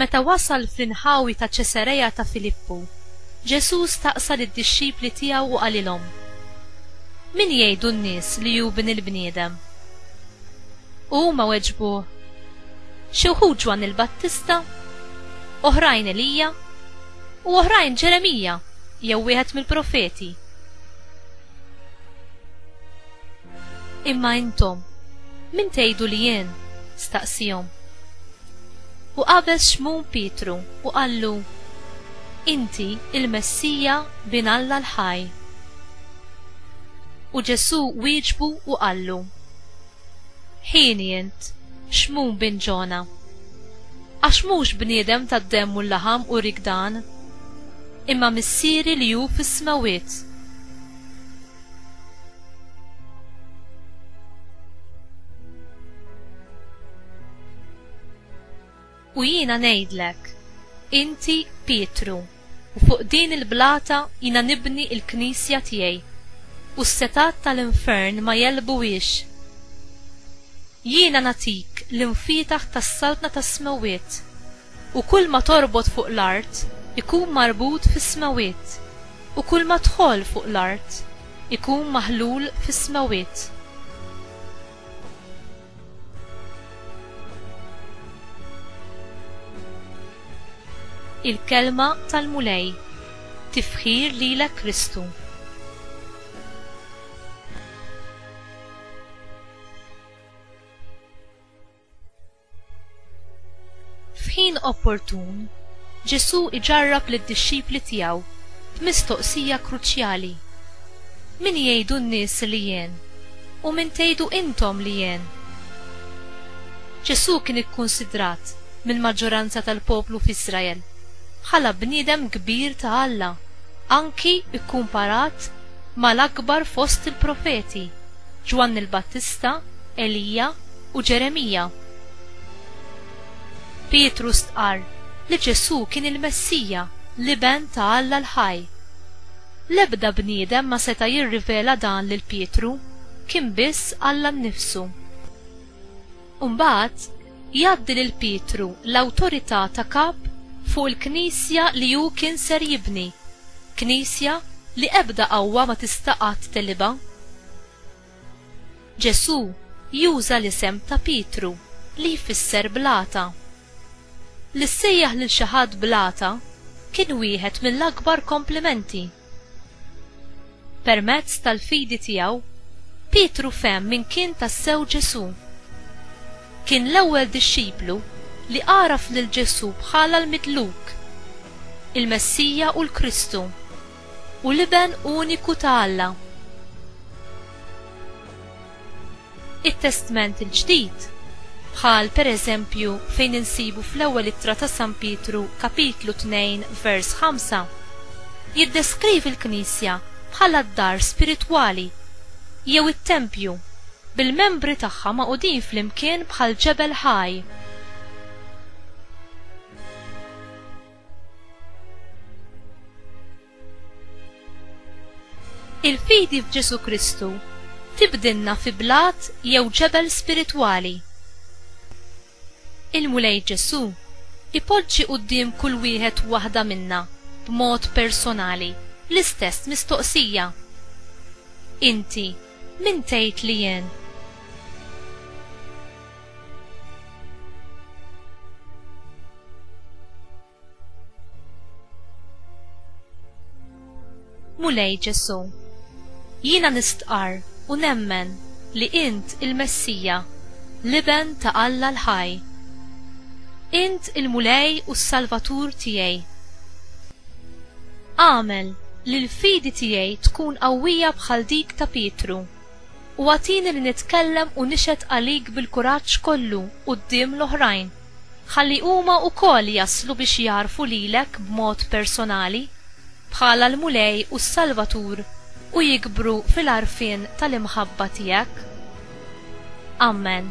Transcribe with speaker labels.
Speaker 1: Meta wasal fl-inħawi ta' Ċesareja ta' Filippu, Ġesù staqsa lid-dixxipli tiegħu u qalilhom, Min jgħidu n-nies li hu Bin il-bniedem? U huma weġbuh, Xi wħud Ġwann il-Battista, oħrajn Elija, u oħrajn Ġeremija jew wieħed mill-profeti. Imma intom, min tgħidu li jien? staqsiehom. U qabeż Xmun Pietru u qallu, Inti l-Messija, Bin Alla l-ħaj. U Ġesù wieġbu u qallu, Hieni int, Xmun bin Ġona. Għax mhux bniedem tad-demm u l-laħam uriek dan. imma Missieri li hu fis-smewwiet. U jiena ngħidlek, inti Pietru, u fuq din il-blata jiena nibni il-knisja tiegħi, u s-setat tal-infern ma jelbuhiex. Jiena nagħtik l-infietaħ tas-saltna tas-smewwiet. U kulma torbot fuq l-art ikun marbut fis-smewwiet, u kulma tħoll fuq l-art ikun maħlul fis-smewwiet. Il-Kelma tal-Mulej. Tifħir lilek Kristu. F'ħin opportun, Ġesù jġarrab lid-dixxipli tiegħu b'mistoqsija kruċjali, Min jgħidu n-nies li jien, u min tgħidu intom li jien? Ġesù kien ikkunsidrat mill-maġġoranza tal-poplu f'Iżrael bħala bniedem kbir ta' Alla, anki kkumparat mal-akbar fost il-profeti, Ġwanni l-Battista, Elija, u Ġeremija. Pietru stqarr li Ġesù kien il-Messija, l-Iben ta' Alla l-ħaj. L-ebda bniedem ma seta' jirrivela dan lil Pietru, kien biss Alla nnifsu. Imbagħad, jgħaddi lil Pietru l-awtorità ta' Kap fuq il-Knisja li hu kien ser jibni, Knisja li ebda qawwa ma tista' qatt teghliba. Ġesù juża l-isem ta' Pietru li jfisser blata. Li ssejjaħ lil xi ħadd blata kien wieħed mill-akbar komplimenti. Permezz tal-fidi tiegħu, Pietru fehem min kien tassew Ġesù. Kien l-ewwel dixxiplu li għaraf lil Ġesù bħala l-Midluk, il-Messija u l-Kristu. u l-Iben uniku ta' Alla. It-Testment il-Ġdid, bħal per eżempju fejn insibu fl-Ewwel Ittra ta' San Pietru kapitlu 2 vers 5, jiddeskrivi l-Knisja bħala d-dar spiritwali, jew it-tempju, bil-membri tagħha magħqudin flimkien bħal ġebel ħaj. Il-fidi f'Ġesù Kristu tibdilna fi blat jew ġebel spiritwali. Il-Mulej Ġesù jpoġġi quddiem kull wieħed u waħda minna b'mod personali l-istess mistoqsija, Inti min tgħid li jien? Mulej Ġesù, jiena nistqarr u nemmen li int il-Messija, l-Iben ta' Alla l-ħaj. Int il-Mulej u s-Salvatur tiegħi. Agħmel li l-fidi tiegħi tkun qawwija bħal dik ta' Pietru. U agħtini li nitkellem u nixhed għalik bil-kuraġġ kollu quddiem l-oħrajn, ħalli huma wkoll jaslu biex jagħrfu lilek b'mod personali, bħala l-Mulej u s-Salvatur u jikbru fil-għarfien tal-imħabba tiegħek. Amen.